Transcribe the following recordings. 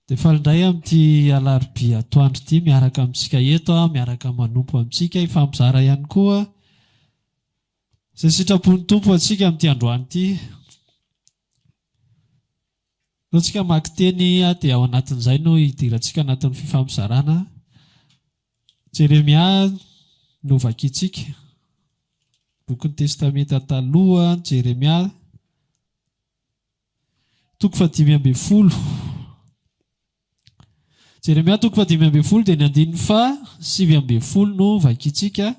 Dia faly indray amin'ity alarobia atoandro ity miaraka amintsika eto, miaraka manompo amintsika, hifampizara ihany koa izay sitrapon'ny Tompo ho antsika amin'ity androany ity. Noho tsika hamaky teny dia ao anatin'izay no hidirantsika anatin'ny fifampizarana Jeremia no vakintsika, bokin'ny Testamenta Taloha, Jeremia, toko fahadimy ambin'ny folo. Jeremia toko fahadimy ambin'ny folo dia ny andininy faha sivy ambin'ny folo no vakintsika.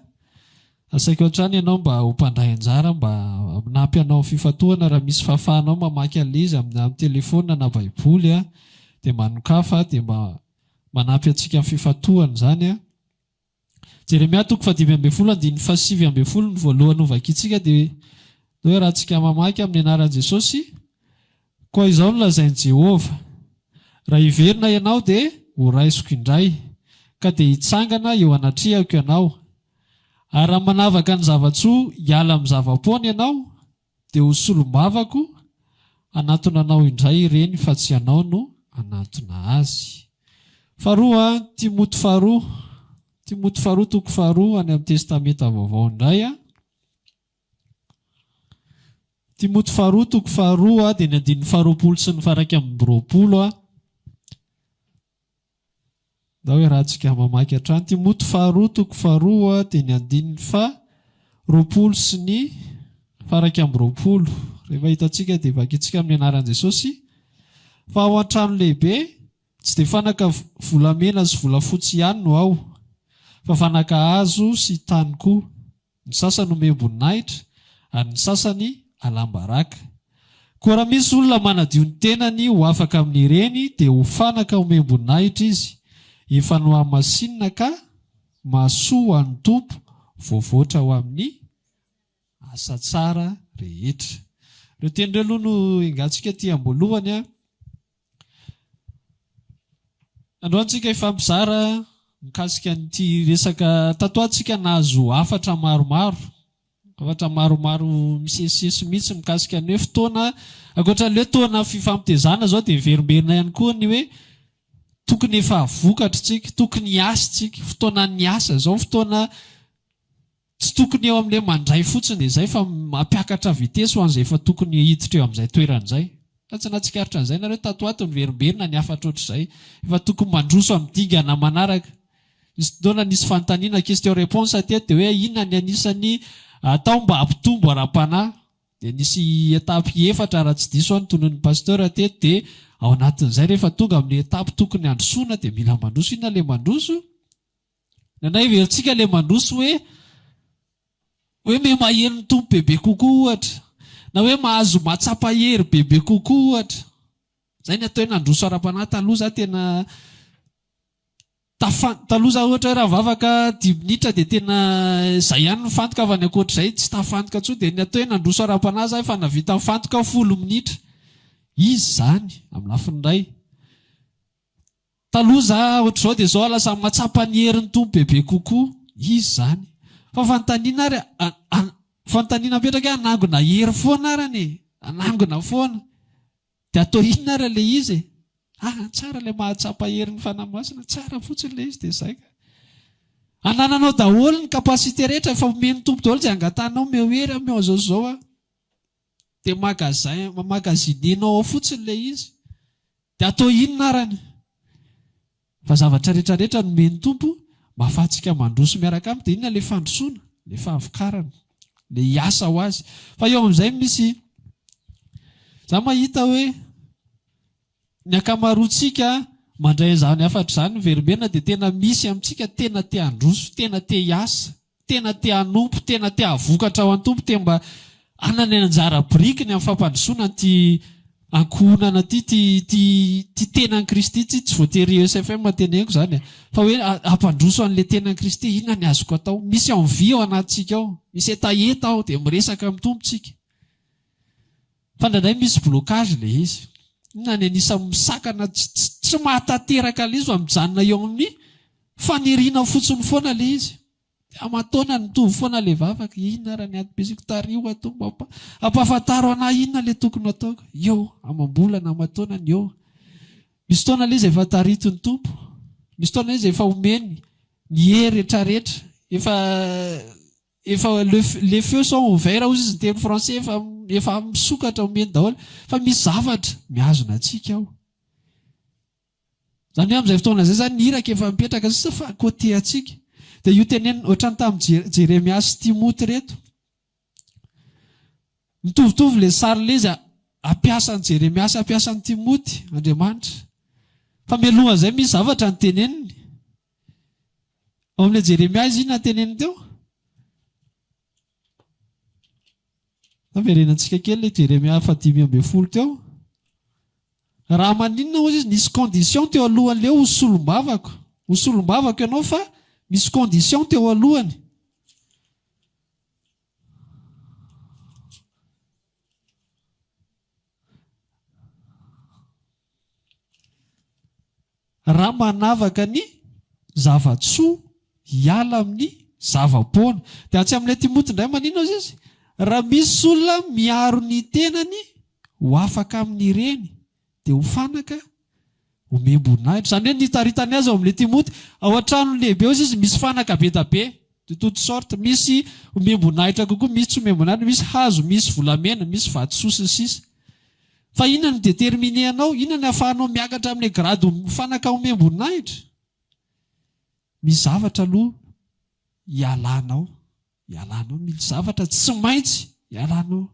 Asaiko hatrany ianao mba ho mpandray anjara mba hanampy hanao fifantohana raha misy fahafahanao mamaky an'ilay izy amin'ny amin'ny telefaonina na baiboly dia manokafa dia mba manampy antsika amin'ny fifantohana izany. Jeremia toko fahadimy ambin'ny folo andininy fahasivy ambin'ny folo ny voalohany hovakintsika dia hoe raha tsika mamaky amin'ny anaran'i Jesosy koa izao no lazain'i Jehovah raha hiverina ianao dia horaisiko indray ka dia hitsangana eo anatrehako ianao ary raha manavaka ny zava-tsoa hiala amin'ny zava-poana ianao Dia ho solombavako hanatona anao indray ireny fa tsy ianao no hanatona azy. Faharoa, Timoty faharoa, Timoty faharoa toko faharoa any amin'ny Testamenta Vaovao indray a. Timoty faharoa toko faharoa dia ny andininy faharoapolo sy ny fahairaika amby roapolo a. Ndao iarahantsika mamaky hatrany Timoty faharoa toko faharoa dia ny andininy faha roapolo sy ny faha iraika amby roapolo. Rehefa hitantsika dia vakintsika amin'ny anaran'i Jesosy fa ao an-trano lehibe tsy dia fanaka volamena sy volafotsy ihany no ao fa fanaka hazo sy tany koa. Ny sasany omem-boninahitra ary ny sasany alam-baraka. Koa raha misy olona manadio ny tenany ho afaka amin'ireny dia ho fanaka omem-boninahitra izy, efa nohamasinina ka mahasoa ho an'ny Tompo, voavoatra ho amin'ny asa tsara rehetra. Ireo teny ireo aloha no engantsika aty am-boalohany. Androany tsika hifampizara mikasika an'ity resaka tato ho ato tsika nahazo hafatra maromaro hafatra maromaro misesisesy mihitsy mikasika ny hoe fotoana ankoatran'ny hoe toana fifampitezana zao dia heverimberina ihany koa ny hoe tokony efa vokatry tsika tokony hiasa tsika fotoanan'ny asa zao fotoana Tsy tokony eo amin'ilay mandray fotsiny dia izay fa mampiakatra vitesy ho an'izay efa tokony hiditra eo amin'izay toerana izay. Fa tsy nahatsikaritra an'izay nareo tato ho ato niverimberina ny hafatra ohatr'izay. Efa tokony mandroso amin'ny dingana manaraka. Nisy fotoana nisy fanontaniana question réponse teto dia hoe inona ny anisan'ny atao mba hampitombo ara-panahy. Dia nisy étape efatra raha tsy diso aho notononin'ny Pasteur teto dia ao anatin'izay rehefa tonga amin'ny étape tokony handrosoana dia mila mandroso. Inona ilay mandroso? Indraindray heverintsika ilay mandroso hoe hoe miha-maheno ny Tompo bebe kokoa ohatra, na hoe mahazo mahatsapa hery bebe kokoa ohatra. Izay ny atao hoe nandroso ara-panahy. Taloha izaho tena tafan- taloha izaho ohatra hoe raha nivavaka dimy minitra dia tena izay ihany ny fantoka fa ny ankoatr'izay tsy tafantoka intsony. Dia ny atao hoe nandroso ara-panahy izaho efa nahavita nifantoka folo minitra. Izy izany amin'ny lafiny iray. Taloha za otrzao de zao lasa matsapa ny herin'ny Tompo bebe kokoa, iza zany? Fa fanontaniana ary a, fanontaniana apetraka hoe hanangona hery foana ary anie e, hanangona foana, de atao inona ary ilay izy e? ah tsara ilay mahatsapa herin'ny Fanahy Masina, tsara fotsiny ilay izy de zay ka. Anananao daholo ny capacité rehetra efa omen'ny Tompo daholo izay angatanao, omeo hery, omeo anzao zao aho. Dia magasin magazinianao ao fotsiny ilay izy. Dia atao inona arany? Fa zavatra rehetra rehetra nomen'ny Tompo mba afahantsika mandroso miaraka Aminy. Dia inona ilay fandrosoana? Ilay fahavokarana. Ilay hiasa ho Azy. Fa eo amin'izay misy, izaho mahita hoe, Ny ankamaroantsika mandray an'izany hafatra izany miverimberina dia tena misy amintsika tena te handroso, tena te hiasa, tena te hanompo, tena te hahavokatra ho an'ny Tompo, te mba hanana ny anjara birikiny amin'ny fampandrosoana an'ity ankohonana ity, ity ity ity tenan'i Kristy ity, tsy voatery ESFM no teneniko izany e, fa hoe hampandroso an'ilay tenan'i Kristy, inona ny azoko atao? Misy envie ao anatintsika ao, misy hetaheta ao dia miresaka amin'ny Tompo tsika. Fa indraindray misy blocage ilay izy. Inona ny anisan'ny misakana tsy mahatanteraka ilay izy fa mijanona eo amin'ny faniriana fotsiny foana ilay izy. Dia aman-taonany mitovy foana ilay vavaka, inona ary ny adim-pisiako, tariho ato mba ampahafantaro an'ahy inona ilay tokony hataoko. Eo, amam-bolana, aman-taonany eo. Misy fotoana ilay izy efa tarihity ny Tompo. Misy fotoana ilay izy efa omeny ny hery retraretra. Efa efa le le feu sont ouverts hozy izy niteny français efa efa misokatra omeny daholo fa misy zavatra mihazona antsika ao zany hoe amin'izay fotoana izay zany ny iraka efa mipetraka sisa fa côté antsika dia io tenenina ohatran'ny tamin'i Je- jeremia sy timoty reto mitovitovy le sary le izy ampiasan'i jeremia sy ampiasan'i timoty andriamanitra fa mialohan'izay misy zavatra ny teneniny Ao amin'ilay Jeremia izy inona no teneniny teo? Averenantsika kely ilay Jeremia fahadimy ambin'ny folo teo. Raha maninona hozy izy nisy condition teo alohan'ilay ho solombavako. Ho solombavako ianao fa misy condition teo alohany. Raha manavaka ny zava-tsoa hiala amin'ny zava-poana. Dia atsy amin'ilay Timoty indray manino aza izy? Raha misy olona miaro ny tenany ho afaka amin'ireny, dia ho fanaka omem-boninahitra. Izany hoe nitaritany azy ao amin'ilay Timoty, ao an-tranony lehibe ao izy misy fanaka be dia be. de toute sorte misy omem-boninahitra kokoa misy tsy omem-boninahitra misy hazo misy volamena misy vatosoa sy ny sisa fa inona no determine anao inona no afahanao miakatra amle grade fanaka omem-boninahitra misy zavatra aloha ialanao ialanao misy zavatra tsy maintsy ialanao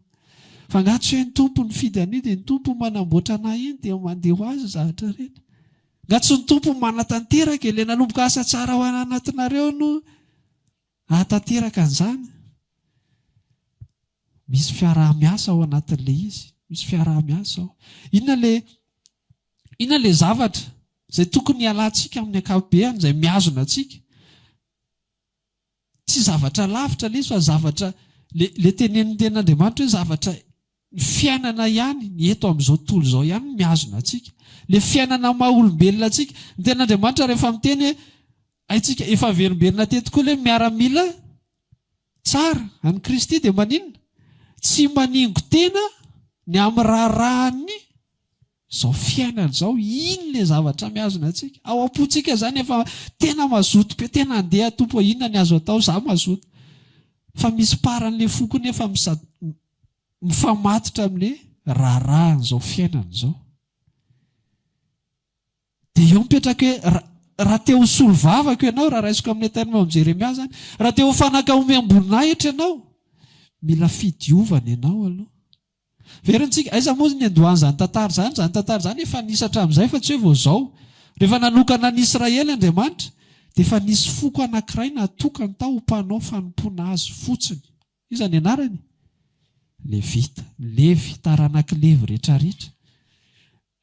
fa nga tsy hoe ny tompo nifidy an'io de ny tompo manamboatra anah iny de mandeha ho azy ny zavatra rehetra Nga tsy ny Tompo no manatanteraka e? Le nanomboka asa tsara ao anatinareo no ahatanteraka an'izany? Misy fiaraha-miasa ao anatin'le izy, misy fiaraha-miasa ao. Inona le, inona le zavatra izay tokony hialantsika amin'ny ankapobeany, izay mihazona antsika? Tsy zavatra lavitra lesy fa zavatra, ilay tenenin'ny Tenin'Andriamanitra hoe zavatra, ny fiainana ihany, ny eto amin'izao tontolo izao ihany no mihazona antsika. Ilay fiainana maha olombelona antsika. Ny Tenin'Andriamanitra rehefa miteny hoe haintsika, efa averimberina teto koa ilay miaramila tsara an'i Kristy dia maninona? Tsy maningo tena ny amin'ny raharahan'ny. Izao fiainana izao, inn le zavatra mihazona antsika? Ao am-pontsika izany efa tena mazoto be, tena andeha Tompo a, inona ny azo atao, za mazoto. Fa misy parany le foko nefa mizat mifamatotra am le raharahan izao fiainana izao. De eo mipetraka hoe ra raha te ho solovavako ianao, raha raisiko am le terme am Jeremia zany, raha te ho fanaka omem-boninahitra ianao, mila fidiovana ianao aloha. Heverintsika, aiza moa ny niandohan'izany tantara izany? Izany tantara izany efa nisy hatramin'izay fa tsy hoe vao izao. Rehefa nanokana an'i Israely Andriamanitra, dia efa nisy foko anankiray natokany tao ho mpanao fanompoana Azy fotsiny. Iza ny anarany? Levita. Ny Levy, taranak'i Levy rehetrarehetra.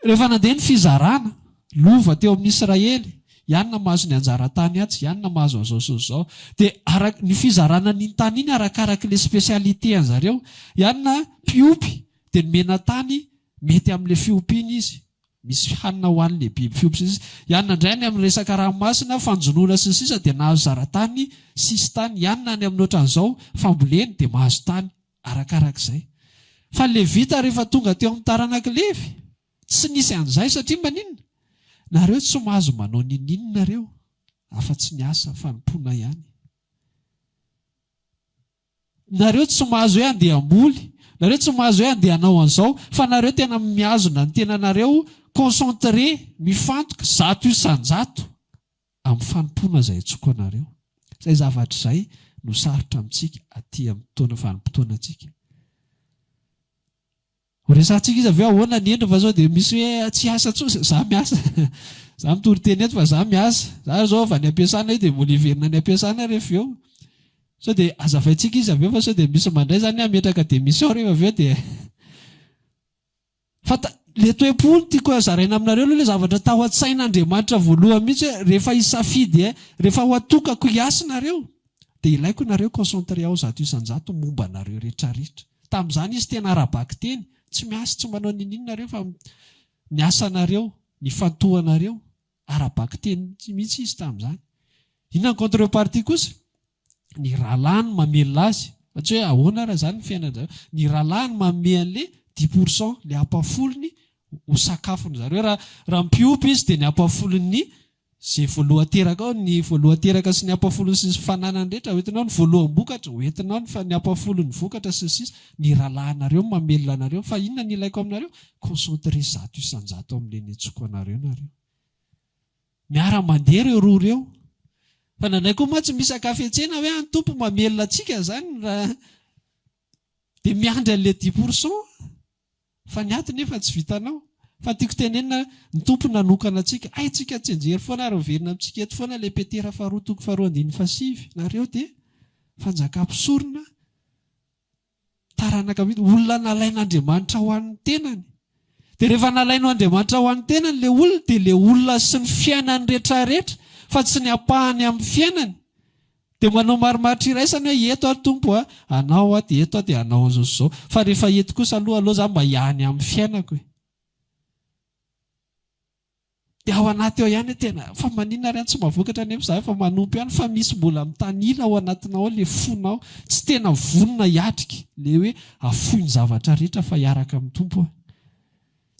Rehefa nandeha ny fizarana lova teo amin'ny Israely, iany na mahazo ny anjara tany atsy, iany na mahazo an'izao sy izao. Dia araka ny fizarana an'iny tany iny arakaraka ilay spécialité an'i zareo. Iany na mpiompy dia nomena tany mety amin'ilay fiompiana izy, misy hanina ho an'ilay biby fiompy sy ny sisa. Iany na indray any amin'ny resaka ranomasina, fanjonoana sy ny sisa dia nahazo zara-tany sisintany. Iany na any amin'ny ohatran'izao famboleny dia mahazo tany. Arakarak'izay. Fa ny Levita rehefa tonga teo amin'ny taranak'i Levy, tsy nisy an'izay, satria maninona? Nareo tsy mahazo manao ninin nareo, afa-tsy ny asa fanompoana ihany. Nareo tsy mahazo hoe andeha hamoly, nareo tsy mahazo hoe andeha hanao an'izao, fa nareo tena mihazona ny tenanareo concentré, mifantoka, zato isan-jato. Amin'ny fanompoana izay atsoiko anareo. Izay zavatra izay no sarotra amintsika aty amin'ny fotoana vanim-potoanantsika. Ho resahintsika izy avy eo ahoana ny endriny fa izao dia misy hoe tsy hiasa intsony izay, izaho miasa. Izaho mitory teny eto fa izaho miasa. Izaho ary izao avy any am-piasana io dia mbola hiverina any am-piasana aho rehefa avy eo. Sao dia hazavaintsika izy avy eo fa sao dia misy mandray izany hametraka démission rehefa avy eo dia. Fa le toe-po no tiako zaraina aminareo aloha le zavatra tao an-tsain'Andriamanitra voalohany mihitsy hoe rehefa hisafidy eh, rehefa ho atokako hiasy nareo dia ilaiko nareo concentré ao zato isan-jato momba anareo retraretra. Tamin'izany izy tena ara-bakiteny, tsy miasy, tsy manao n'inon'inona nareo fa ny asanareo, ny ifantohanareo. Ara-bakiteny mihitsy izy tamin'izany. Inona ny contrepartie kosa? Ny rahalahy no mamelona azy. Fa tsy hoe ahoana ary izany ny fiainany zareo. Ny rahalahy no manome an'ilay dix pour cent, ilay ampafolony ho sakafony zareo. Raha mpiompy izy dia ny ampafolon'ny izay voaloha teraka ao, ny voaloha teraka sy ny ampafolony sy ny fananany rehetra hoentinao, ny voaloham-bokatra hoentinao, ny ampafolon'ny vokatra sy ny sisa. Ny rahalahy anareo no mamelona anareo. Fa inona no ilaiko aminareo? Concentrer zato isan-jato amin'ny nenentsoko anareo nareo. Miara mandeha ireo roa ireo. Fa indraindray koa mantsy misy ankafetsena hoe any Tompo mamelona antsika izany raha dia miandry an'ilay dix pour cent fa ny aty nefa tsy vitanao. Fa tiako tenenina ny Tompo nanokana antsika. Haintsika an-tsenjery foana ary miverina amintsika eto foana ilay Petera faharoa toko faharoa andininy fahasivy. Nareo dia fanjaka mpisorona. Taranaka mihitsy, olona nalain'Andriamanitra ho an'ny tenany. Dia rehefa nalaino Andriamanitra ho an'ny tenany ilay olona dia ilay olona sy ny fiainany retraretra fa tsy ny ampahany amin'ny fiainany. Dia manao marimaritra iraisana hoe eto aho Tompo a, anao aho dia eto aho dia anao izao sy izao. Fa rehefa eto kosa aloha aloha za mba hiany amin'ny fiainako e. Dia ao anaty ao ihany tena, fa maninona ary any tsy mba vokatra anefa izahay fa manompo ihany fa misy mbola mitanila ao anatinao ao ilay fonao tsy tena vonona hiatrika ilay hoe afoy ny zavatra rehetra fa hiaraka amin'ny Tompo aho.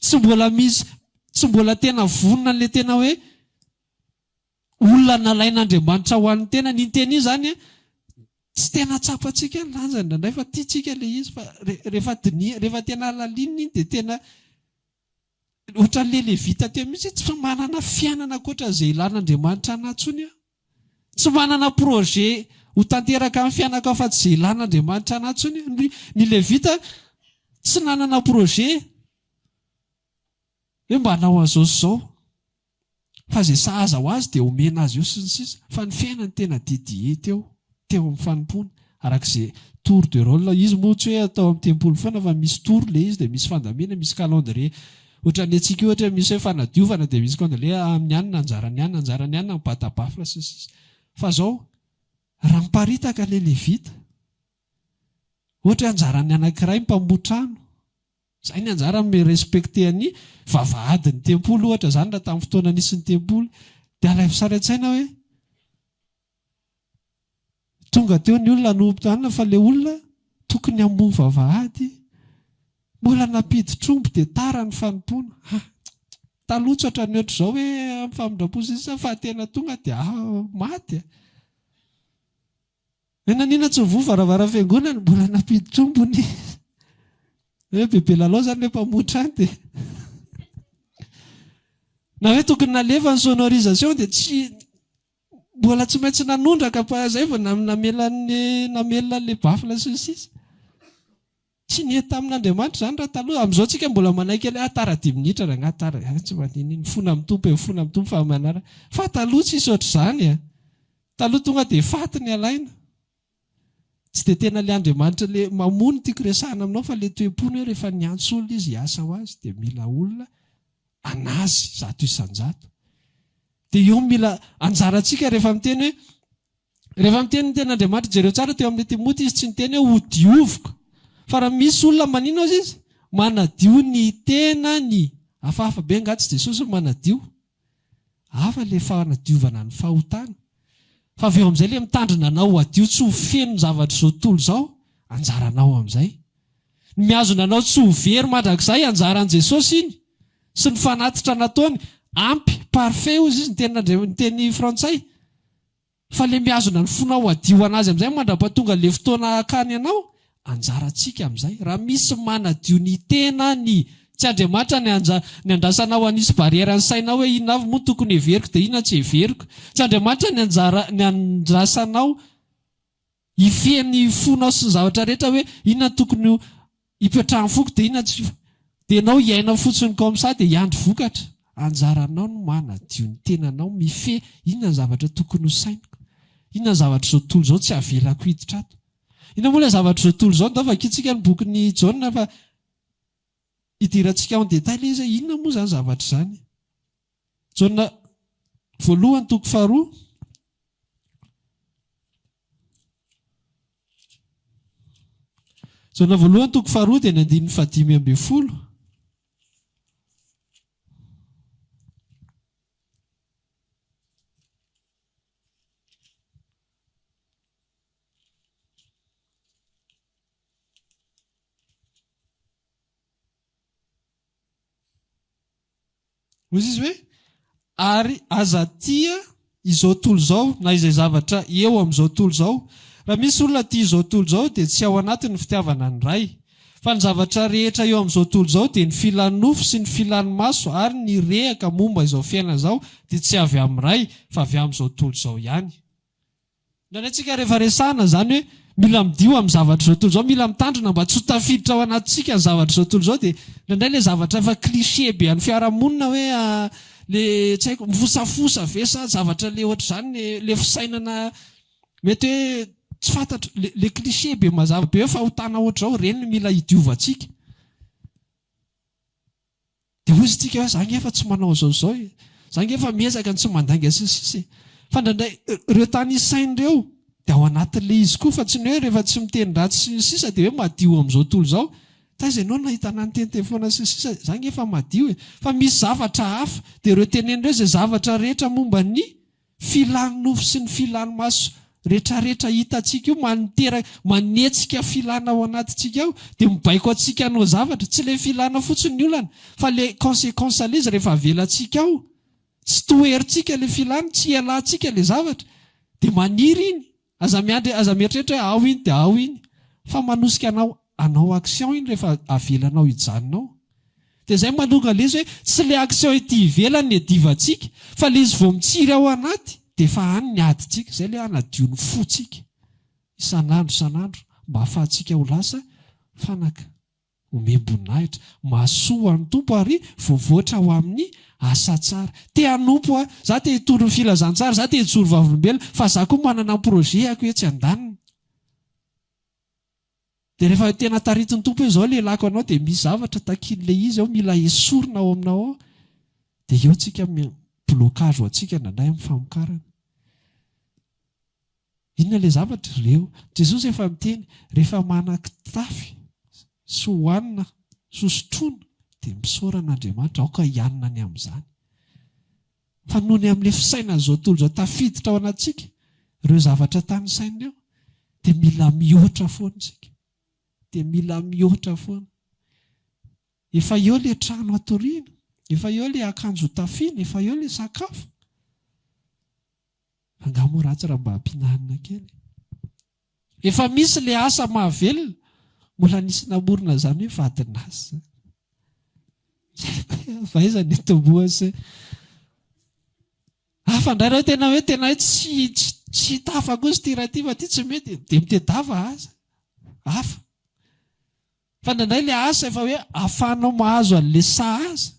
Tsy mbola misy, tsy mbola tena vonona an'ilay tena hoe olona nalain'Andriamanitra ho an'ny tenany. Iny teny iny izany an, tsy tena tsapantsika ny lanjany indraindray fa tiantsika ilay izy fa rehefa diniha, rehefa tena halalinina iny dia tena Ohatran'ilay Levita teo mihitsy hoe tsy manana fiainana ankoatran'izay ilan'Andriamanitra anah intsony aho. Tsy manana projet ho tanteraka amin'ny fiainako afa-tsy izay ilan'Andriamanitra anah intsony aho. Ny Levita tsy nanana projet hoe mba hanao an'izao sy izao. fa izay sahaza ho azy dia omena azy eo sy ny sisa fa ny fiainany tena dédié teo teo amin'ny fanompoana araka izay tour de rôle izy moa tsy hoe atao amin'ny tempoly foana fa misy tour ilay izy dia misy fandamiana misy calendrier ohatran'ny antsika io ohatra misy hoe fanadiovana dia misy calendrier amin'ny anona anjarany anona anjarany anona mibata bafla sy ny sisa fa izao raha miparitaka ilay levita Ohatra hoe anjaran'ny anankiray ny mpamoha trano, izay ny anjarany mi-respecter an'ny vavahadin'ny tempoly ohatra izany raha tamin'ny fotoana nisy ny tempoly. Dia alaivo sary an-tsaina hoe tonga teo ny olona hanompo anona fa ilay olona tokony hamoha vavahady mbola nampiditra omby dia tara ny fanompoana. Ah, taloha tsy ohatran'ny ohatr'izao hoe amin'ny famindram-po sy ny sisa fa tena tonga dia maty. Nanina tsy nivoha varavara fiangonana mbola nampiditra omby ny hoe bebe lalao zany le mpamotra any de na hoe tokony nalefa ny sonorisation de tsy mbola tsy maintsy nanondraka pa zay vao namelany namelona le baffle sy ny sisa Tsy nety tamin'Andriamanitra izany raha taloha. Amin'izao tsika mbola manaiky an'I, ah tara dimy minitra rangahy tara, ah tsy mandinin'iny, mifona amin'ny Tompo e, mifona amin'ny Tompo fa amin'ny anarany. Fa taloha tsisy ohatr'izany e. Taloha tonga dia faty ny alaina. Tsy dia tena ilay Andriamanitra ilay mamoa no tiako resahina aminao fa ilay toe-pony hoe rehefa niantso olona Izy hiasa ho Azy dia mila olona an'Azy zato isan-jato. Dia io mila anjarantsika rehefa miteny hoe Rehefa miteny ny tenin'Andriamanitra, jereo tsara teo amin'i Timoty izy tsy niteny hoe ho dioviko. Fa raha misy olona manino azy izy, manadio ny tenany. Hafahafa be angaha tsy Jesosy no manadio? Hafa ilay fanadiovana ny fahotana. Fa avy eo amin'izay ilay mitandrina anao ho hadio tsy ho feno ny zavatr'izao tontolo izao, anjaranao amin'izay. Ny mihazona anao tsy ho very mandrakizay, anjaran'i Jesosy iny sy ny fanatitra nataony. Ampy, parfait, hozy izy, ny tenin'Andriamanitra, ny teny frantsay. Fa le mihazona ny fonao hadio anazy amizay mandrapa tonga le fotoana hakany anao, anjara tsika amizay ra misy manadio ny tenany, tsy Andriamanitra ny ny andrasanao hanisy barrière ny sainao hoe inona avy moa no tokony heveriko de inona tsy heveriko, tsy Andriamanitra ny anjara ny andrasanao Hifehy ny fonao sy ny zavatra rehetra hoe inona no tokony ho ipetrahan'ny foko dia inona tsy Dia ianao hiaina fotsiny comme ça dia hiandry vokatra? Anjaranao ny manadio ny tenanao, mifehy inona ny zavatra tokony ho sainiko? Inona ny zavatra izao tontolo izao tsy avelako hiditra ato? Inona moa ilay zavatra izao tontolo izao? Ndao vakintsika ny bokin'i Jaona fa hidirantsika en détail izy hoe inona moa izany zavatra izany? Jaona voalohany toko faharoa Jaona voalohany toko faharoa dia ny andininy fahadimy ambin'ny folo. Hoy izy hoe, Ary aza tia izao tontolo izao, na izay zavatra eo amin'izao tontolo izao. Raha misy olona tia izao tontolo izao, dia tsy ao anatiny ny fitiavana ny Ray. Fa ny zavatra rehetra eo amin'izao tontolo izao, dia ny filan'ny nofo sy ny filan'ny maso ary ny rehaka momba izao fiainana izao, dia tsy avy amin'ny Ray, fa avy amin'izao tontolo izao ihany. Indraindray tsika rehefa resahina izany hoe mila midio amin'ny zavatra izao tontolo izao, mila mitandrina mba tsy ho tafiditra ao anatintsika ny zavatra izao tontolo izao dia indraindray ilay zavatra efa cliché be an'ny fiarahamonina hoe le tsy haiko mifosafosa ve sa zavatra le ohatr'izany le fisainana mety hoe tsy fantatra le le cliché be mazava be hoe fahotana ohatr'izao ireny no mila hidiovantsika. Dia hoy isika hoe, za nge efa tsy manao izao izao e, za nge efa miezaka ny tsy mandainga sy ny sisa e. Fa indraindray ireo tany isainy ireo dia ao anatin'ilay izy koa fa tsy ny hoe rehefa tsy miteny ratsy sy ny sisa dia hoe madio amin'izao tontolo izao. Taiza ianao nahita anah niteniteny foana sy ny sisa e, za nge efa madio e. Fa misy zavatra hafa, dia ireo teneny ireo izay zavatra rehetra momba ny. Filan'ny nofo sy ny filan'ny maso retraretra hitantsika io maniteraka, manetsika filana ao anatintsika ao dia mibaiko antsika hanao zavatra. Tsy ilay filana fotsiny ny olana fa ilay consequence an'ilay izy rehefa avelantsika ao, tsy toherintsika ilay filana, tsy ialantsika ilay zavatra dia maniry iny. Aza miandry aza mieritreritra hoe ao iny dia ao iny fa manosika anao hanao action iny rehefa avelanao hijanona ao. Dia izay manonga ilay izy hoe tsy ilay action ety ivelany no iadivantsika fa ilay izy vao mitsiry ao anaty dia efa any ny adintsika. Izay ilay hanadio ny fontsika isan'andro isan'andro mba ahafahantsika ho lasa fanaka. Homem-boninahitra. Mahasoa ho an'ny Tompo ary voavoatra ho amin'ny asa tsara. Te hanompo aho. Izaho te hitondro ny filazantsara. Izaho te hijoro vavolombelona. Fa izaho koa manana ny projet-ako etsy andaniny. Dia rehefa tena taritin'ny Tompo hoe izao ilay lako anao dia misy zavatra takian'ilay izy ao mila esorina ao aminao ao. Dia eo tsika, blocage ho antsika indraindray amin'ny famokarana. Inona ilay zavatra? Ry Leo, Jesosy efa niteny, rehefa manan-kitafy sy hohanina sy hosotroina dia misaora an'Andriamanitra, aoka hihanina ny amin'izany. Fa noho ny amin'ilay fisainan'izao tontolo izao tafiditra ao anatintsika ireo zavatra tanisainy eo, dia mila mihoatra foana isika. Dia mila mihoatra foana. Efa eo ilay trano hatoriana, efa eo ilay akanjo hotafiana, efa eo ilay sakafo. Angaha moa ratsy raha mba ampihinanina kely? Efa misy le asa mahavelona, mbola nisy namorona izany hoe vadin'asa. Fa aiza ny hitomboa se? Hafa indray raha tena hoe tena tsy tsy hita hafa kosa ity raha ity fa ity tsy mety dia mitedava aza. Hafa. Fa indraindray le asa efa hoe afahanao mahazo anle sahaza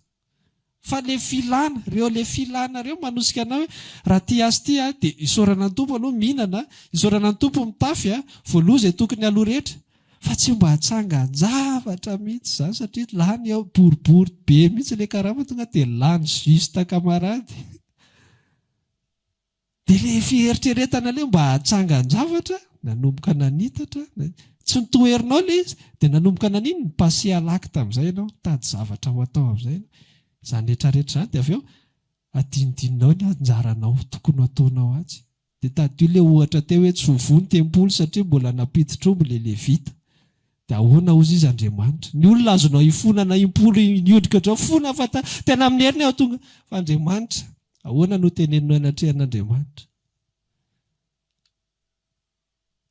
fa le filana reo le filana reo manosika anao hoe raha tia azy ity a de isaorana ny Tompo aloha mihinana a, isaorana ny Tompo mitafy a, voaloha izay tokony aloha rehetra fa tsy mba atsangan-javatra mihitsy zany satria lany ao boribory be mihitsy le karama tonga de lany juste camarade. Dia ilay fieritreretana ilay mba hatsangan-javatra, nanomboka nanitatra, tsy notoherinao ilay izy, dia nanomboka nanino, ni-passer à l'acte amin'izay ianao, nitady zavatra ho atao amin'izay ianao. Izany rehetra rehetra izany dia avy eo adinodininao ny anjaranao tokony ho ataonao atsy. Dia tadidio ilay ohatra teo hoe tsy ho voa ny tempoly satria mbola nampidi-trombo ilay Levita. Dia ahoana hozy izy Andriamanitra? Ny olona azonao ifonana impolo hiodika ohatrao fona fa ta, tena amin'ny heriny aho tonga. Fa Andriamanitra, ahoana no teneninao eny an-trehan'Andriamanitra?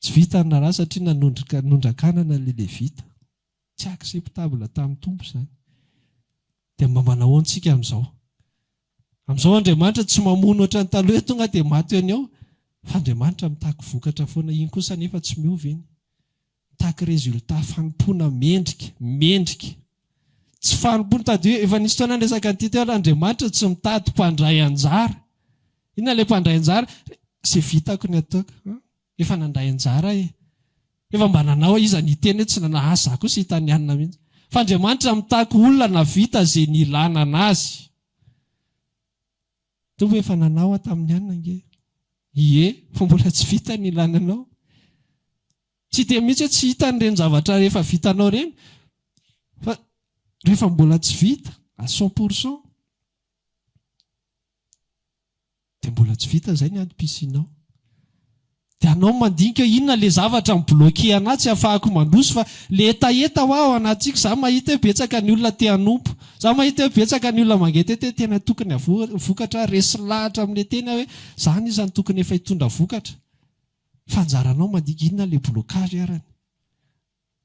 Tsy vitan'ny raharaha satria nanondrika, nondrakanana ilay Levita. Tsy acceptable tamin'ny Tompo izany. Dia mba manao ahoana isika amin'izao? Amin'izao Andriamanitra tsy mamono ohatran'ny taloha hoe tonga dia maty eo an'i eo. Fa Andriamanitra mitaky vokatra foana. Iny kosa anefa tsy miova iny. Mitaky résultat, fanompoana mendrika, mendrika. Tsy fanompoana mitady hoe, efa nisy fotoana aho niresaka an'ity teo, Andriamanitra tsy mitady mpandray anjara. Inona ilay mpandray anjara? Izay vitako ny ataoko. Efa nandray anjara aho e. Efa mba nanao aho, iza niteny hoe tsy nanao? Asa za kosa itanianina mihitsy. Fa Andriamanitra mitaky olona nahavita izay nilana an'Azy. Mitovy efa nanao aho tamin'ny anona ange. Ie, fa mbola tsy vita ny lananao. Tsy dia mihitsy hoe tsy hita an'ireny zavatra efa vitanao ireny, fa rehefa mbola tsy vita à cent pour cent, dia mbola tsy vita izay ny adim-pisianao. De anao mandinika inona le zavatra mi bloquer anah tsy afahako mandroso fa le hetaheta hoa ao anatiko za mahita hoe betsaka ny olona te hanompo za mahita hoe betsaka ny olona mangetete hoe tena tokony havoa vokatra resy lahatra amle tena hoe za anisa ny tokony efa hitondra vokatra fa anjaranao mandinika inona le blocage arany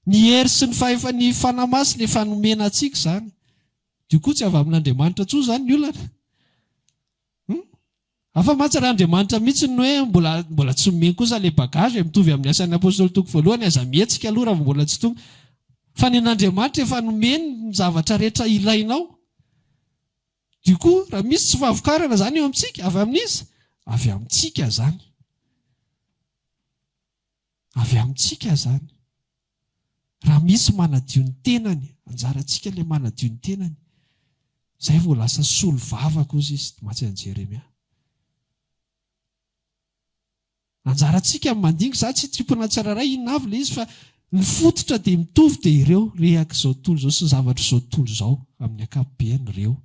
ny hery sy ny fahefa ny fanahy masina efa nomena antsika zany dio koa tsy avy amin'Andriamanitra tsony zany ny olana hum Afa mantsy ary Andriamanitra mihitsy ny hoe mbola mbola tsy nomeny kosa ilay bagage e, mitovy amin'ny Asan'ny Apostoly toko voalohany, aza mihetsika aloha raha vao mbola tsy tonga. Fa nen'Andriamanitra efa nomeny ny zavatra rehetra ilainao. Du coup, raha misy tsy fahavokarana izany eo amintsika, avy amin'iza? Avy amintsika izany. Avy amintsika izany. Raha misy manadio ny tenany, anjarantsika ilay manadio ny tenany. Izay vao lasa solovava kosa izy, mantsy an'i Jeremia. Anjarantsika ny mandinga, izaho tsy tiako na tsirairay inona avy ilay izy fa ny fototra dia mitovy dia ireo reak'izao tontolo izao sy ny zavatr'izao tontolo izao amin'ny ankapobeny ireo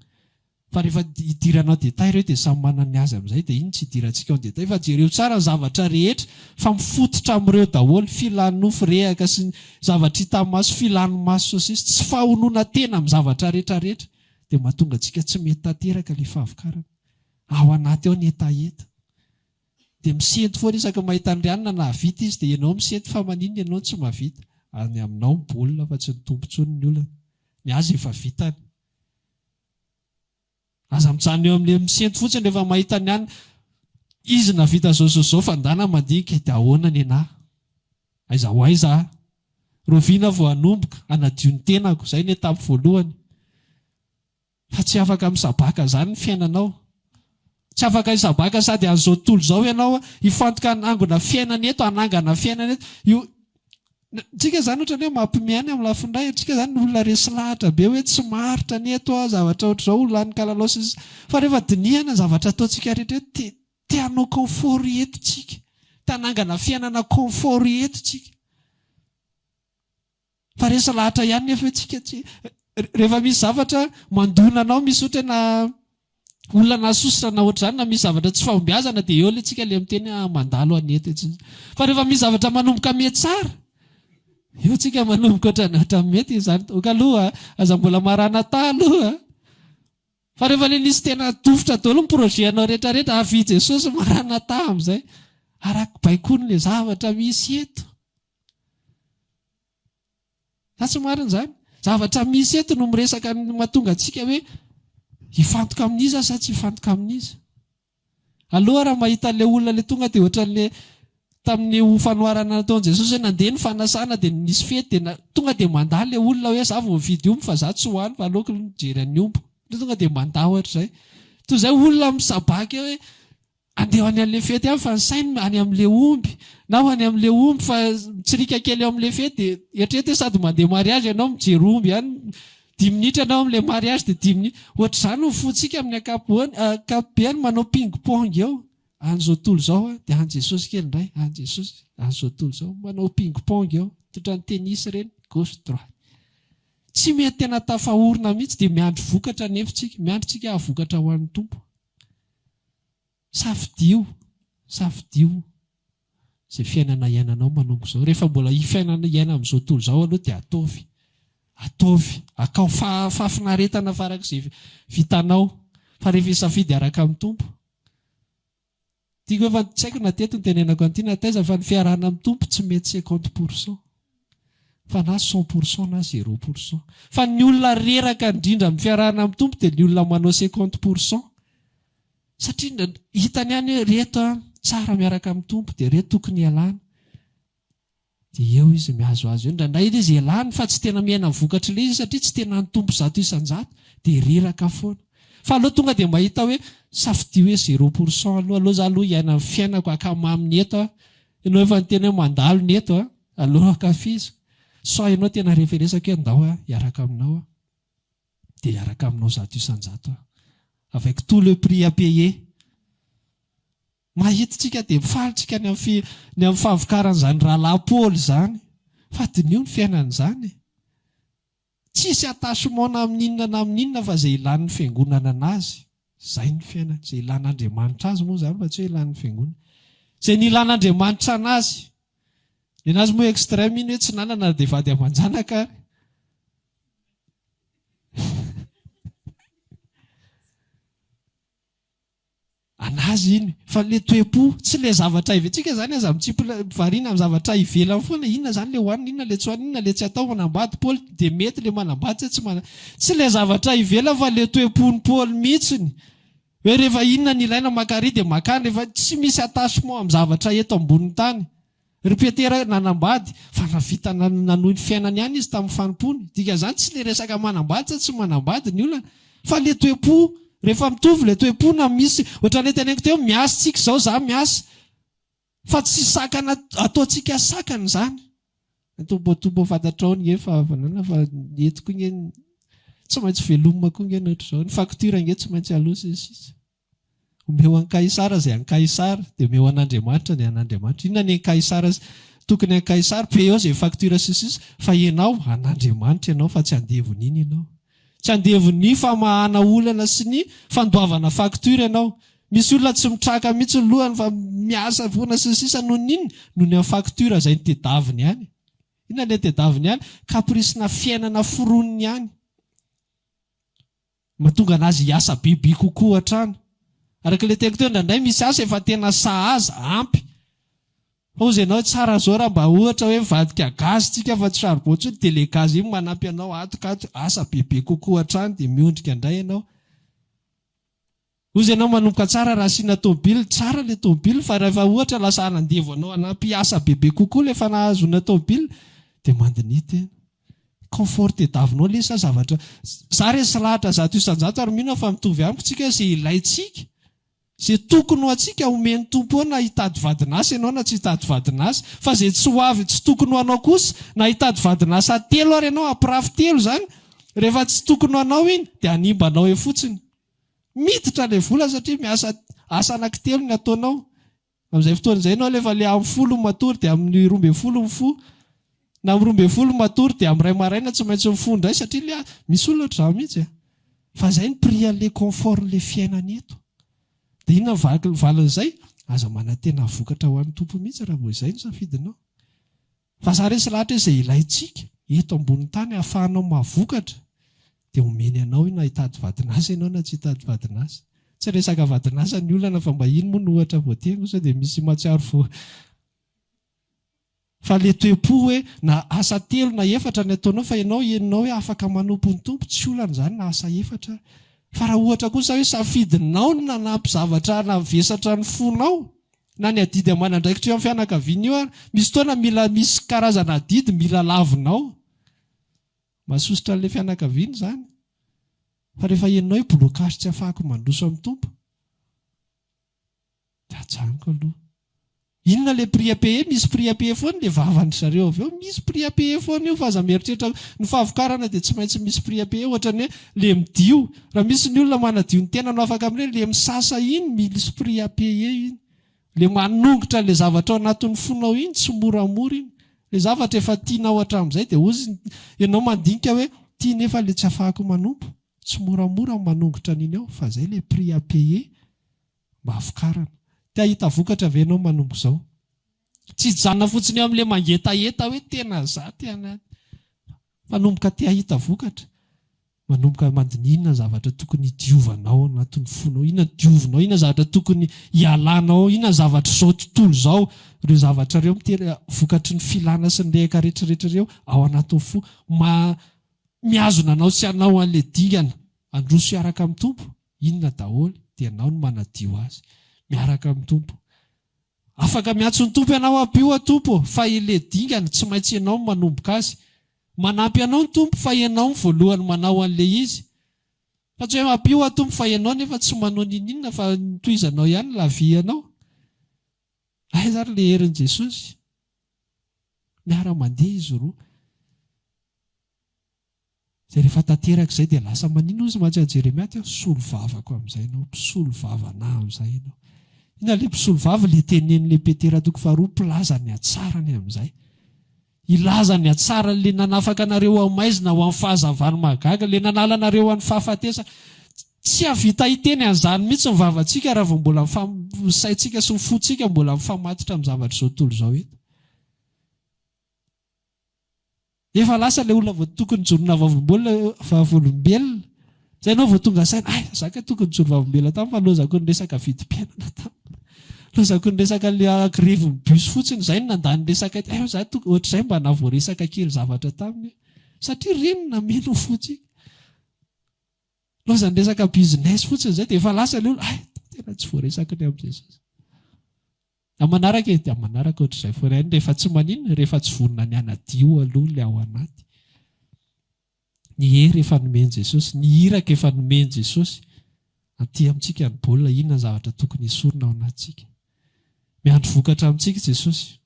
Fa rehefa hidirana en détail ireo dia samy manana ny azy amin'izay dia iny tsy hidirantsika en détail fa jereo tsara ny zavatra rehetra fa mifototra amin'ireo daholo, filan'ny nofo rehaka sy ny zavatra hita maso, filan'ny maso sy ny sisa Tsy fahonoana tena amin'ny zavatra rehetra rehetra dia mahatonga antsika tsy mety tanteraka ilay fahavokarana ao anaty ao ny hetaheta dia misento foana isaky ny mahita an'i Rianina nahavita izy dia ianao misento fa maninona ianao no tsy mahavita any aminao ny baolina fa tsy ny Tompo intsony ny olana ny azy efa vitany Aza mijanona eo amin'le misento fotsiny rehefa mahita ny an'ny izy navita zao zao zao fa ndana mandinika de ahoana nenah? Aiza ho aiza ah? Rovina vao hanomboka hanadio ny tenako, zay ny étape voalohany fa tsy afaka misabaka zany ny fiainanao. Tsy afaka hisabaka sady an'izao tontolo izao ianao hifantoka ny hangona fiainana eto, hanangana fiainana eto. Io antsika izany ohatran'ny hoe mampiomehy ihany amin'ny lafiny iray. Antsika izany ny olona resy lahatra be hoe tsy maharitra ny eto aho, zavatra ohatr'izao, ho lanin'ny kalalao sy ny sisa. Fa rehefa dinihana ny zavatra ataontsika rehetra eto, te te hanao confort eto tsika, te hanangana fiainana confort eto tsika. Fa resa lahatra ihany nefa io tsika tsy Rehefa misy zavatra mandona anao misy ohatra na olona nasosotra na ohatr'izany na misy zavatra tsy fahombiazana dia eo le tsika le miteny ah mandalo anie ity tsy Fa rehefa misy zavatra manomboka miha tsara eo tsika manomboka ohatrany ohatrany mety izany ok aloha aza mbola maranatha aloha Fa rehefa le nisy tena dofotra daholo ny projet anao rehetra rehetra avia Jesosy maranatha amin'izay arak'baikoin'le zavatra misy eto. Sa tsy marina izany? Zavatra misy eto no miresaka ny mahatonga antsika hoe hifantoka amin'iza sa tsy hifantoka amin'iza. Aloha raha mahita ilay olona ilay tonga dia ohatran'ilay tamin'ny ho fanoharana nataon'i Jesosy hoe nandeha ny fanasana dia nisy fety dia tonga dia mandà ilay olona hoe za vao nividy omby fa za tsy ho any fa aleoko mijery an'ny omby. Dia tonga dia mandà ohatr'izay. Toy izay olona misabaka eo hoe Handeha ho any amin'ilay fety aho fa ny sainy any amin'ilay omby, na ho any amin'ilay omby fa mitsirika kely eo amin'ilay fety dia eritrereto hoe sady mandeha mariage ianao no mijery omby ihany, dimy minitra ianao ao amin'ilay mariage dia dimy minitra. Ohatr'izany ny fontsika amin'ny ankapoany, ankapobeny manao ping pong eo. Any izao tontolo izao an, dia any Jesosy kely indray, any Jesosy, any izao tontolo izao, manao ping pong eo, totran'ny tennis ireny, gauche droite. Tsy mety tena tafaorina mihitsy dia miandry vokatra anefa isika, miandry isika hahavokatra ho an'ny Tompo. Safidio, safidio izay fiainana iainanao manomboka izao. Rehefa mbola hifaina hiaina amin'izao tontolo izao aloha dia ataovy, ataovy, akao faha fahafinaretana farak'izay vitanao fa rehefa hisafidy araka amin'ny Tompo. Tiako hoe fa tsy haiko na teto no tenenako an'ity na taiza fa ny fiarahana amin'ny Tompo tsy mety cinquante pour cent. fa na cent pour cent na zero pour cent fa ny olona reraka indrindra amin'ny fiarahana amin'ny Tompo dia ny olona manao cinquante pour cent satria hitany ihany hoe reto an tsara miaraka amin'ny Tompo dia reto tokony hialana dia eo izy mihazohazo eo indraindray ilay izy elany fa tsy tena miaina ny vokatr'ilay izy satria tsy tena ny Tompo zato isan-jato dia reraka foana fa aleo tonga dia mahita hoe safidio hoe zero pour cent aloha aleo za aloha hiaina ny fiainako akamamy ny eto aho ianao efa niteny hoe mandalo ny eto an Allo ankafizo, sao ianao tena referesako e, ndao aho hiaraka aminao aho, dia hiaraka aminao zato isan-jato aho, avec tout le prix à payer. Mahita tsika dia mifaly tsika ny amin'ny ny amin'ny fahavokaran'izany rahalahy Paoly izany, fa diniho ny fiainany izany e. Tsisy attachement na amin'inona na amin'inona fa izay ilan'ny fiangonana anazy izay ny fiainany, izay ilan'Andriamanitra azy moa izany fa tsy hoe ilan'ny fiangonana. Izay nilan'Andriamanitra anazy. Nenazy moa extreme iny hoe tsy nanana ary dia vady aman-janaka ary. An'azy iny. Fa ilay toe-po, tsy ilay zavatra avy antsika izany aza mitsimpona, variana amin'ny zavatra ivelany foana, inona izany ilay hohanina, inona ilay tsy hohanina, inona ilay tsy atao, manambady Paoly, dia mety ilay manambady sa tsy manambady. Tsy ilay zavatra ivelany fa ilay toe-pon'i Paoly mihitsiny. Hoe rehefa inona no ilaina, maka ary dia maka any, rehefa tsy misy attachement amin'ny zavatra eto ambonin'ny tany. Ry Petera nanambady fa nahavita nanohy ny fiainany ihany izy tamin'ny fanompoany. Dikan'izany tsy ilay resaka manambady sa tsy manambady ny olana fa ilay toe-po. Rehefa mitovy ilay toe-po na misy, ohatran'ilay teneniko teo, miasa tsika izao, za miasa fa tsy sakana ataontsika sakana izany. Antomboantombo ao fantatrao ange fa havanana fa ny eto koa ange tsy maintsy velomina koa ange ny ohatr'izao, ny facture ange tsy maintsy aloa sy ny sisa. Omeo an'i Kaisara izay an'i Kaisara, dia omeo an'Andriamanitra ny an'Andriamanitra. Inona ny an'i Kaisara sy tokony an'i Kaisara? Payez izay facture sy ny sisa, fa ianao, an'Andriamanitra ianao fa tsy andevon'iny ianao. Tsy andevon'ny famahana olana sy ny fandoavana facture ianao. Misy olona tsy mitraka mihitsy ny lohany fa miasa foana sy ny sisa noho ny inona? Noho ny amin'ny facture izay ny tedaviny ihany. Inona ny tedaviny ihany? Caprice-na fiainana foroniny ihany. Mahatonga an'azy hiasa be be kokoa hatrany. Araka ilay teniko teo indraindray misy asa efa tena sahaza, ampy. Fa hozy ianao hoe tsara izao raha mba ohatra hoe mivadika gaz tsika fa tsy charbon intsony dia ilay gaz iny manampy anao ato ka ato, asa be be kokoa hatrany dia miondrika indray ianao. Ozy ianao manomboka tsara raha asiana tômôbily, tsara ilay tômôbily fa rahefa ohatra lasa hanandevo anao hanampy asa bebe kokoa ilay efa nahazoana tômôbily dia mandiniha tena. Confort tediavinao anie sa zavatra, za re tsy lahatra zato isan-jato ary mino aho fa mitovy amiko tsika hoe ze ilaintsika, ze tokony ho antsika omen'ny Tompo eo na hitady vadin'asa ianao na tsy hitady vadin'asa, fa ze tsy ho avy tsy tokony ho anao kosa na hitady vadin'asa telo ary ianao hampirafy telo izany rehefa tsy tokony ho anao iny dia hanimba anao eo fotsiny. Miditra ilay vola satria miasa asa anankitelo ny ataonao. Amin'izay fotoana izay ianao alefa le amin'ny folo matory dia amin'ny roa ambin'ny folo mifoha. Na amin'ny roa ambin'ny folo matory dia amin'ny iray maraina tsy maintsy mifoha indray satria le misy olona ohatr'izany mihitsy e. Fa izay ny prix an'ilay confort an'ilay fiainana eto. Dia inona ny valin'izay? Aza manantena vokatra ho an'ny Tompo mihitsy raha vao izay no safidinao. Vazaha resy lahatra izay ilaintsika eto ambonin'ny tany hahafahanao mahavokatra dia omeny anao io na hitady vadin'asa ianao na tsy hitady vadin'asa. Tsy resaka vadin'asa ny olana fa mba iny moa no ohatra voatery no sao dia misy mahatsiaro fo fahaleteom-po hoe na asa telo na efatra ny ataonao fa ianao henonao hoe afaka manompo ny Tompo, tsy olana izany na asa efatra fa raha ohatra kosa hoe safidinao ny nanampy zavatra navesatra ny fonao, na ny adidy aman'andraikitra eo amin'ny fianakaviana io ary misy fotoana mila misy karazana adidy mila lavina ao mahasosotra an'ilay fianakaviana izany fa rehefa henonao hoe blocage tsy afahako mandroso amin'ny Tompo dia ajanoko aloha inona le prix à payer misy prix à payer foana le vavan-dry zareo avy eo misy prix à payer foana io fa aza mieritreritra ny fahavokarana dia tsy maintsy misy prix à payer ohatra ny hoe le midio Raha misy ny olona manadio ny tenany ho afaka amin'ireny, ilay misasa iny, mille esprits à payer iny, ilay manongotra an'ilay zavatra ao anatin'ny fonao iny, tsy moramora iny. Ilay zavatra efa tianao hatramin'izay dia hozy ny, ianao mandinika hoe ity nefa ilay tsy afahako manompo. Tsy moramora ny manongotra an'iny ao fa izay ilay prix à payer mba havokarana. Te hahita vokatra ve ianao manomboka izao? Tsy hijanona fotsiny eo amin'ilay mangetaheta hoe tena za te hanady. Mpanomboka te hahita vokatra, manomboka mandiniha inona ny zavatra tokony hidiovanao ao anatin'ny fonao, inona no diovinao, inona ny zavatra tokony hialanao ao, inona ny zavatr'izao tontolo izao, ireo zavatra ireo mitery vokatry ny filana sy ny rehaka rehetrarehetra ireo ao anatin'ny fo. Ma, mihazona anao tsy hanao an'ilay dingana, handroso hiaraka amin'ny Tompo, inona daholo dia ianao no manadio azy. Miaraka amin'ny Tompo. Afaka miantso ny Tompo ianao hampio aho Tompo ô, fa ilay dingana tsy maintsy ianao no manomboka azy. Manampy anao ny Tompo fa ianao no voalohany manao an'ilay izy. Fa tsy hoe hampio aho Tompo fa ianao nefa tsy manao ninininona fa tohizanao ihany ilay vianao. Aiza ary ilay herin'i Jesosy? Miara-mandeha izy roa. Dia rehefa tanteraka izay dia lasa maninona izy mantsy an'i Jeremia teo? Solovavako amin'izay ianao, mpisolo vava anah amin'izay ianao. Inona ilay mpisolo vava? Ilay tenenin'ilay Petera toko faharoa mpilaza ny hatsarany amin'izay. Hilaza ny hatsarany, ilay nanafaka anareo ho amin'ny maizina, ho amin'ny fahazavan'ny mahagaga, ilay nanala anareo ho an'ny fahafatesana. Tsy hahavita hiteny an'izany mihitsy ny vavantsika raha vao mbola ny saintsika sy ny fontsika mbola mifamatotra amin'ny zavatr'izao tontolo izao eto. Efa lasa ilay olona vao tokony jorona vavolombelona. Izay ianao vao tonga saina, hay, izaho kay tokony nijoro vavolombelona taminy fa lozako ny resaka vidim-piainana taminy. Lozako ny resaka ilay grevin'ny bus fotsiny, izay no nandà ny resaka ety. Hay, izaho tokony, ohatr'izay mba nahavoaresaka kely zavatra taminy. Satria reniny nameno ny fo tsika. Lozan'ny resaka business fotsiny izay dia efa lasa ilay olona, hay, tena tsy voaresako ny amin'i Jesosy. Ny manaraka e, dia manaraka ohatr'izay foana ihany rehefa tsy maninona, rehefa tsy vonona ny hanadio aloha ilay ao anaty. Ny hery efa nomen'i Jesosy, ny iraka efa nomen'i Jesosy. Antia amintsika ny baolina, inona ny zavatra tokony hesorina ao anatintsika. Miandry vokatra amintsika Jesosy.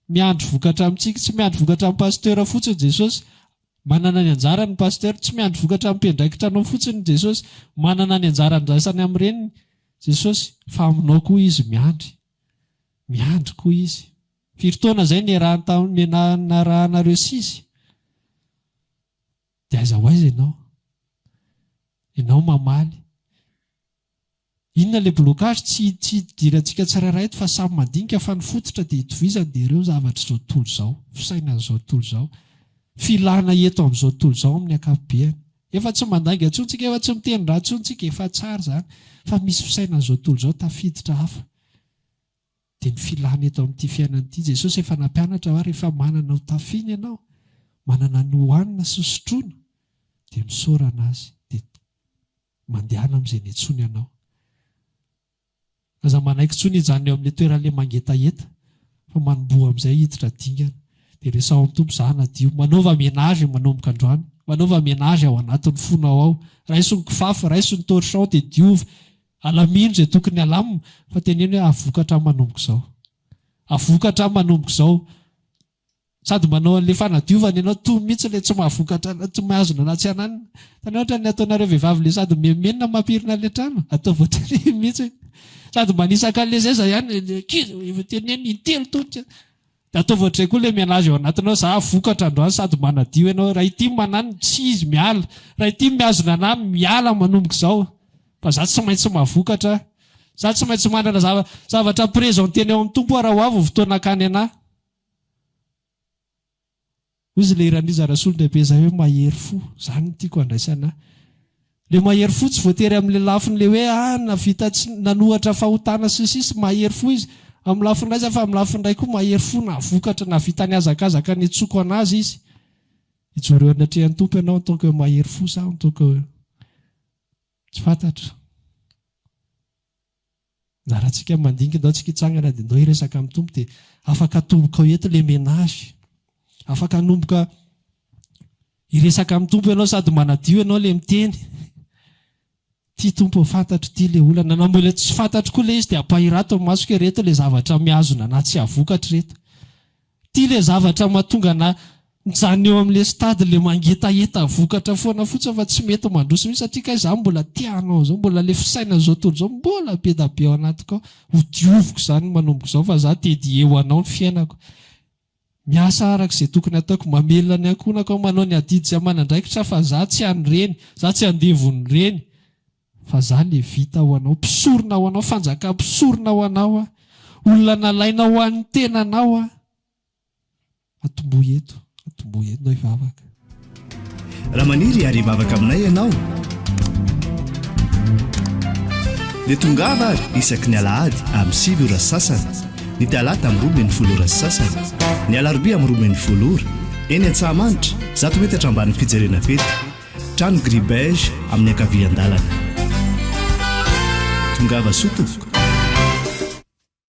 Miandry vokatra amintsika, tsy miandry vokatra amin'ny pasteur fotsiny Jesosy, Manana ny anjarany ny Pasteur, tsy miandry vokatra ampiandraikitra anao fotsiny Jesosy, manana ny anjara andraisany amin'ireny Jesosy, fa aminao koa Izy miandry. Miandry koa Izy. Firy taona izay niarahany tamin'ny menanarahanareo sisa? Dia aiza ho aiza ianao? Ianao mamaly. Inona le blocage tsy tsy idirantsika tsirairay eto fa samy mandinika fa ny fototra dia itovizany dia ireo zavatra izao tontolo izao, fisainan'izao tontolo izao, filana eto amin'izao tontolo izao amin'ny ankapobeany. Efa tsy mandainga intsony tsika efa tsy miteny ratsy intsony tsika efa tsara izany fa misy fisainan'izao tontolo izao tafiditra hafa dia ny filana eto amin'ity fiainana ity. Jesosy efa nampianatra fa rehefa manana ho tafiny ianao, manana ny hohanina sy sotroina dia misaorana Azy dia Mandehana amin'izay niantsoany anao. Aza manaiky intsony hijanona eo amin'ilay toeran'ilay mangetaheta, fa manomboha amin'izay hiditra dingana. Dia resaho amin'ny Tompo izaho hanadio. Manaova ménage manomboka androany. Manaova ménage ao anatin'ny fonao ao. Raiso ny kifafa, raiso ny torchon dia diovy. Alamino izay tokony halamina, fa teneno hoe, Avoka hatramin'ny manomboka izao. Avoka hatramin'ny manomboka izao. Sady manao an'ilay fanadiovana ianao tony mihitsy ilay tsy mahavokatra na tsy mihazona na tsy ananina. Hitanao ohatran'ny ataonareo vehivavy ilay sady miha-menina mampirina ilay trano, atao voatery mihitsy hoe sady manisa kalezaiza ihany ilay ankizy, efa teneno intelo tonta, dia ataovy ohatr'izay koa ilay menage ao anatinao, za vokatra androany sady manadio ianao, raha ity mananina, tsy izy miala, raha ity mihazona anà, miala manomboka izao, fa za tsy maintsy mahavokatra, za tsy maintsy manana zava-, zavatra presentena eo amin'ny Tompo aho raha ho avy ny fotoana hakany anà. Hoy izy ilay Raniza Rasolondehibe izay hoe mahery fo. Izany no tiako handraisana ahy. Ilay mahery fo tsy voatery amin'ilay lafin'ilay hoe ah, nahavita tsy, nanohatra fahotana sy ny sisa. Mahery fo izy amin'ny lafiny iray izany fa amin'ny lafiny iray koa mahery fo nahavokatra, nahavita nihazakazaka nitsoka an'azy izy. Hijoro eo anatrehan'ny Tompo ianao en tant que mahery fo sa en tant que tsy fantatra. Na raha tsika mandinga indao tsika hitsangana dia indao hiresaka amin'ny Tompo dia afaka atomboka ao eto le menage. Afaka hanomboka hiresaka amin'ny Tompo ianao sady manadio ianao le miteny. Ity Tompo fantatro ity le olana. Na mbola tsy fantatro koa le izy dia ampahirato ny masoko hoe reto le zavatra mihazona anah tsy avokatra ireto. Ty le zavatra mahatonga ana mijanona eo amle stade le mangetaheta vokatra foana fotsiny fa tsy mety mandroso mihitsy satria kay za mbola te hanao zao mbola le fisainana zao tontolo zao mbola bedabe ao anatiko ao ho dioviko zany manomboka izao fa za te dédier ho anao ny fiainako miasa araka ze tokony ataoko mamelona ny ankohonako aho manao ny adidy zay aman'andraikitra fa za tsy an'ireny za tsy andevon'ireny Fa za levita ho anao, mpisorona ho anao, fanjaka mpisorona ho anao aho, olona nalainao ho an'ny tenanao aho. Atombohy eto, atombohy eto, na hivavaka. Raha maniry ary hivavaka aminay ianao, dia tongava ary isaky ny alahady amin'ny sivy ora sy sasany, ny talata amin'ny roa ambin'ny folo ora sy sasany, ny alarobia amin'ny roa ambin'ny folo ora, eny Antsahamanitra, zato metatra ambanin'ny fijerena Beta. Trano gris beige amin'ny ankavian-dalana. Tongava soa tompoko.